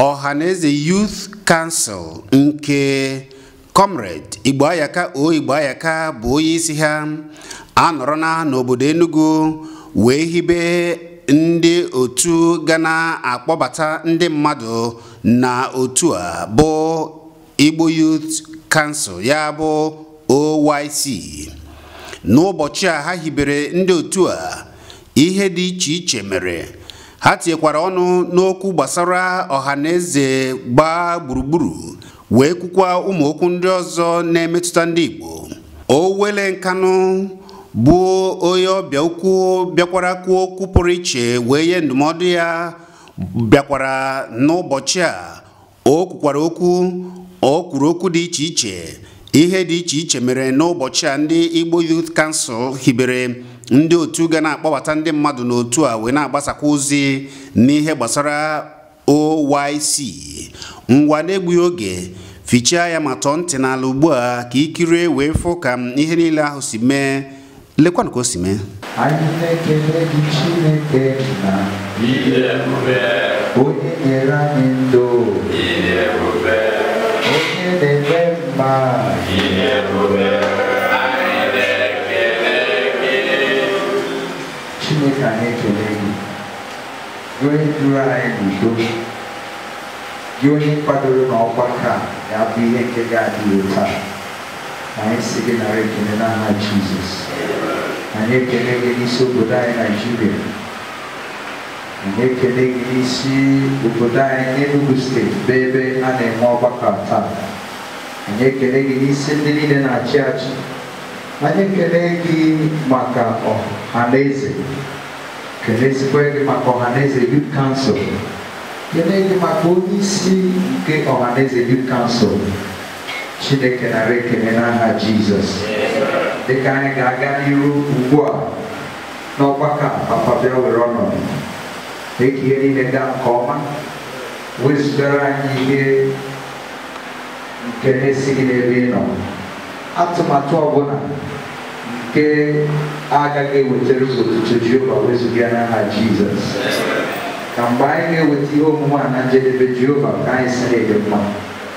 Ọhaneze Youth Council nke Comrade Igboayaka O Igboayaka bụ onye isi ha anọrọna n'obodo Enugu wee hibe ndị otu ga na-akpọbata ndị mmadụ na otu a bụ Igbo Youth Council ya bụ OYC n'ụbọchị a ha hibere ndị otu a ihe dị iche iche mere ha tinyekwara ọnụ n'okwu gbasara ọha na eze gbaa gburugburu wee kwukwa ụmụ okwu ndị ọzọ na-emetụta ndị Igbo Owele Nkanụ bụ onye ọbịa ukwu bịakwara kwuo okwu pụrụ iche wee nye ndụmọdụ ya bịakwara n'ụbọchị a o kwukwara okwu o kwuru okwu dị iche iche ihe dị iche iche mere n'ụbọchị a ndị Igbo Youth Council hibere ndị otu ga na-akpọbata ndị mmadụ n'otu a wee na-agbasakwa ozi n'ihe gbasara OYC ngwa na-egbughị oge fichaa anya ma tọọ ntị n'ala ugbu a ka i kirie wee fụ ka ihe niile ahụ si mee lekwanụ ka o si mee anyị na-ekele gị Chineke nna onye nyere anyị ndụ onye na-eme mma chineke anyị ekele gị gị onye duru anyị n'udo gị onye kwadoro na ọgbakọ a ga-abụ ihe nke ga-adị taa anyị sị gị nara ekele n'aha Jizọs anyị ekele gị n'isi obodo anyị Naịjirịa anyị ekele gị n'isi obodo anyị Enugu steeti bụ ebe a na-eme ọgbakọ taa anyị ekele gị n'isi ndị niile na-achị achị anyị ekele gị maka Ọhaneze kelezikwa gị maka Ọhaneze Youth Council kelee gị maka onye isi nke Ọhaneze Youth Council Chineke nara ekele n'aha Jizọs dịka anyị ga-aga n'iru ugbu a n'ọgbakọ a papa bịa were ọnọdụ mee ka ihe niile gaa nke ọma wezugara anyị ihe nke na-esighị n'ebe ị nọ atụmatụ ọbụla nke agaghị ewetara otuto Jehova wezuga n'aha Jizọs ka mgbe anyị ga-eweta ihe omume a na njedebe Jehova ka anyị sị na ị dị mma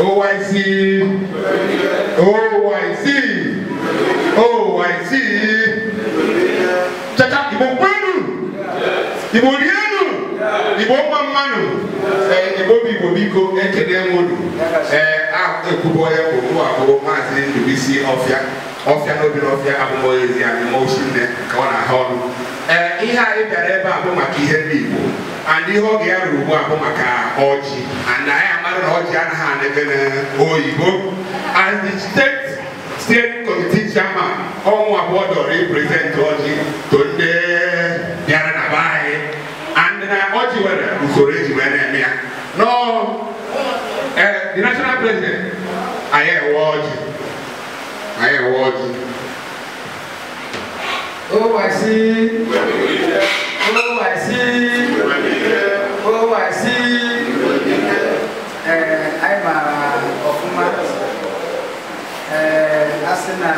OYC. OYC. OYC. Chacha Igbo kwenu. Igbo rienu. Igbo mma mmanụ. Ee, Igbo bụ Igbo biko ekele m unu. Ee, a ekwubo ya bụ mụ abụrụ maazị Ndubisi Ọfịa. Ọfịa na-ebi n'ọfịa abụmọya ezi anyị ma osi nne ka ọ na-aha ọrụ. Ee, ihe anyị bịara ebe a bụ maka ihe ndị Igbo and ihe oge ya ruru ugbu a bụ maka ọjị and anyị amara na ọjị anaghị anebe na oyibo as the state steering committee chairman ọ mụwa bụ o dooro ịpresent ọjị to ndị bịara na be anyị and na ọjị nwere usoro e ji wee na-eme ya nọ ee the national president anyị ewe ọjị anyị ewe ọjị Oh, I see. Oh, I see. Oh, I see. Eh, anyị maara ọfụma ee a sị na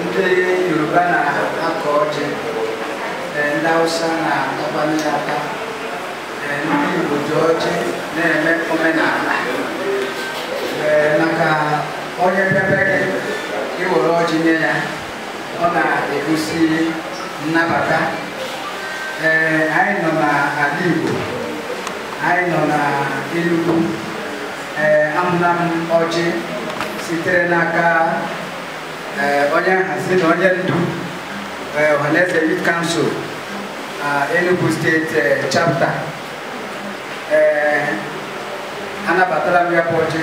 ndị Yoruba na-akọ ọjị ee ndị Hausa na-atakwanụ ya ata ee ndị Igbo ji ọjị na-eme omenala ee maka onye bịa be gị ị were ọjị nye ya ọ na-egosi nnabata ee anyị nọ na ala Igbo anyị nọ na Enugu ee ahụla m ọjị sitere n'aka ee onye nhazi na onye ndu ee Ohanaeze Youth Council na Enugu steeti ee, chapter ee anabatara m ya bụ ọjị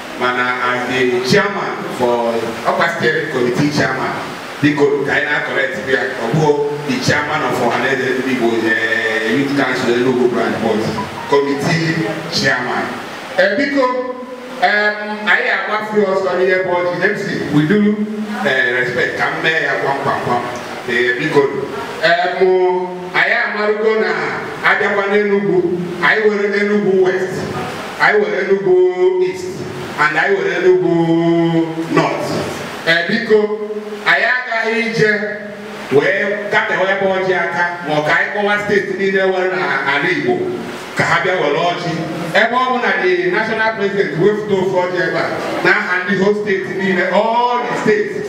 mana as the chairman for ọkwa steering committee chairman biko ka anyị na-acorrect ya ọ bụghị the chairman of ọhaneze ndị igbo eh, youth council enugu branch but committee chairman Eh, biko em, anyị agbafe ọsọ n'ihe bụ ọjị MC with due respect ka m mee ya kwamkwamkwam Eh, biko em, anyị amarugo na a bịakwa n'enugwu anyị were Enugwu West anyị were Enugu East and anyị were Enugu North ee biko anyị agaghị ije wee kpatụwa ya bụ ọjị aka ma ọ ka anyị kpọwa steeti niile were n'ala Igbo ka ha bịa were ọjị ebe ọ bụ na the national president wefụta ofu ọjị ebe a n'aha the whole steeti niile all the steeti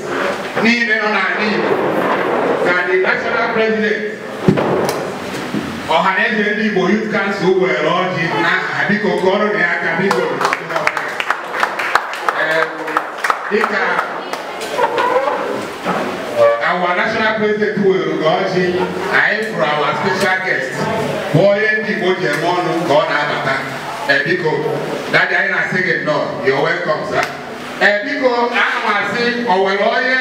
niile nọ n'ala Igbo na the national president Ọhanaeze ndị Igbo Youth Council were ọjị n'aha ha biko kụọrọ nụ ya aka biko Ee, dịka our national president were ọjị anyị fụrụ our special guest bụ onye ndị Igbo ji eme ọnụ ka ọ na-abata Ee, biko dadi anyị na-asị gị nnọọ you're welcome sir Ee, biko ana m asị o nwere onye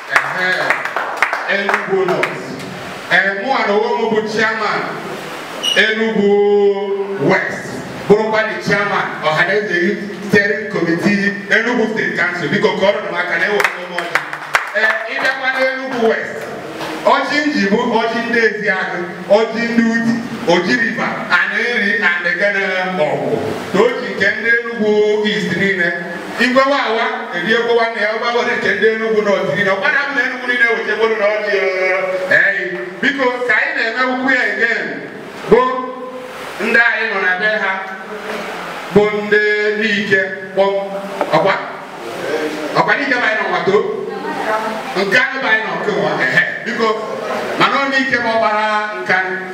Enugu North mụ a na onwe m bụ chairman Enugu West bụrụkwa the chairman Ọhaneze Youth Steering Committee Enugu State Council biko ka o ruru m aka na ewere m ọjị ee ịbịakwa n'Enugu West ọjị m ji bụ ọjị ndị Ezeagụ ọjị ndị Udi Oji River Aninri and then na Ọgwụ na ọjị nke ndị Enugu East niile Igwewa awa eri egwu nwanne ya ọgbagọdị nke ndị Enugu North ọ dịgị na ọgbara m na Enugu niile wetegboro na ọdị eyi biko ka anyị na-eme ukwu ya again bụ ndị anyị nọ na be ha bụ ndị Nike kpọm ọkwa ọkwa Nike bụ anyị nọ nwato nke anyị bụ anyị nọ nke nwa ehe biko mana ọ Nike ma ọ gbara nka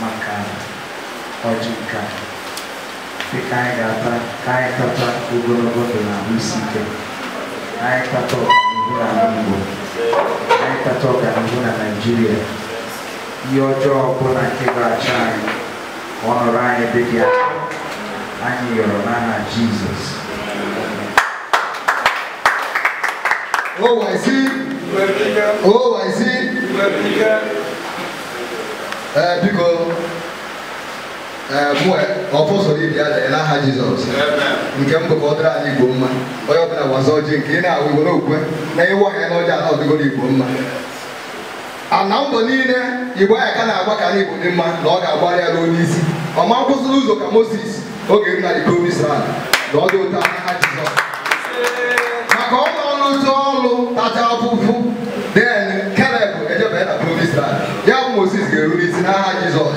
maka ọjị nke a dị ka anyị ga-ata anyị tata ogologo ndụ na ahụ isi ike anyị tata ọganihu na ala Igbo anyị tata ọganihu na Naịjirịa ihe ọjọọ ọbụla nke ga-achọ anyị ọ nọrọ anyị ebe dị aka anyị yọrọ n'aha jizọs OYC, OYC, ee biko ee mụ ọfọ soro ibe ya lee n'aha Jizọs nke mbụ ka ọ dịrị anyị Igbo mma onye ọbụla waza ọjị nke ị na-awụ Igbo n'okwe na ịwa ya n'ọjị ala ọdịgoro Igbo mma a na mbọ niile Igboayaka na-agba ka anị Igbo dị mma na ọ ga-agbara ya ruo n'isi ọ ma kwụsị n'ụzọ ka moses ọ ga-eru na the promised land na ọ dị otu a n'aha jizọs maka ọ nọ n'ụzọ ọrụ tacha afụfụ then Caleb ejebanye na promised land ya bụ moses ga-eru n'isi n'aha jizọs